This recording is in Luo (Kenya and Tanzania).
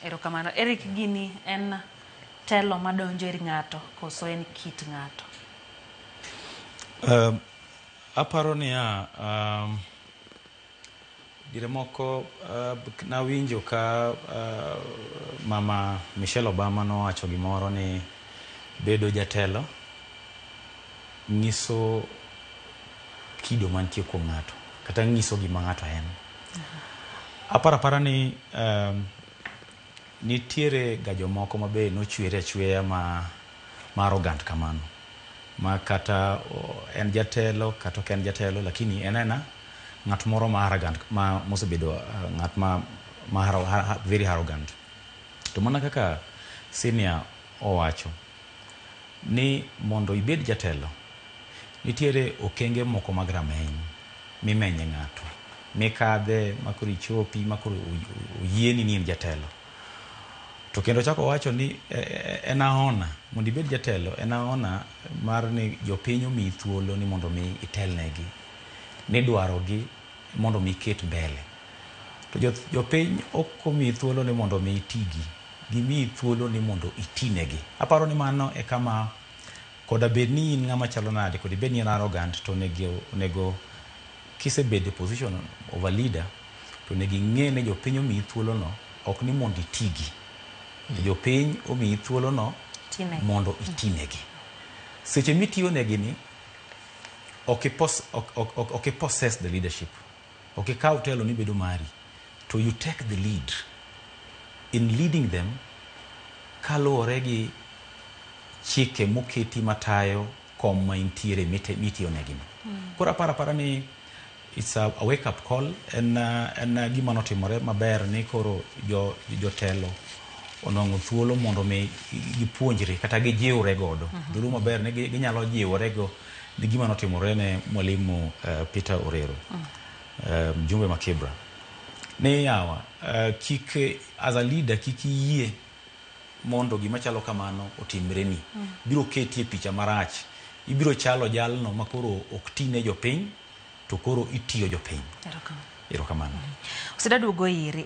Erokamano. Eric gini en telo madonjo ir ng'ato koso en kit ng'ato? Um, aparo niya um, dire moko uh, nawinjo ka uh, mama Michelle Obama nowacho gimoro ni bedo jatelo nyiso kido mantie kuom ng'ato kata nyiso gima ng'ato en. Aparo apara ni um, nitiere ga jomoko ma be nochwere achweya ma, ma arrogant kamano ma kata en jatelo kata ok en jatelo lakini en ena ng'at moro ma arrogant ma mosebedo uh, ng'at ma, ma haro, ha, very arrogant to mana kaka senior owacho ni mondo ibed jatelo, nitiere okenge moko mag rameny mimenye ng'ato, mikadhe ma koro ichopi ma koro oyieni ni in jatelo. To kendo ochako owacho ni e, e, en aona, mondo ibed jatelo en aona mar ni jopiny omiyi thuolo ni mondo mi itelnegi, ni dwarogi mondo mi iket mbele. To jopiny ok omiyi thuolo ni mondo mi itigi. gimiyi thuolo ni mondo itinegi. Aparo ni mano e kama koda bed ni in ng'ama chalo nade, koda ibed ni in arrogant, to onego, onego kisebedo e position of a leader, to onego ing'e ni jopiny omiyi thuolono ok ni mondo itigi, to jopiny omiyi thuolono Tinegi. mondo itinegi. Seche mitiyonegini, ok i pos, ok, ok, ok, ok i possess the leadership. Ok ikaw telo ni bedo mari, to you take the lead in leading them kaluwore gi chike moketi matayo kom ma intiere mitiyonegino. Koro aparo apara ni it's a, a wake up call en, en gima notimore maber ni koro jo, jotelo onwang'o thuolo mondo mi gipuonjre kata gijiwre godo. Dhulu maber ni gi- ginyalo jiworego ni gima notimore ne mwalimu uh, Peter Orero uh, mjumbe ma Kibra ni yawa uh, kik as a leader kik iyie mondo gima chalo kamano otimreni mm. biro keti e picha marach ibiro chalo jalno makoro ok tine jopiny to koro itiyo jopiny erokamano mm. osedaduogo iri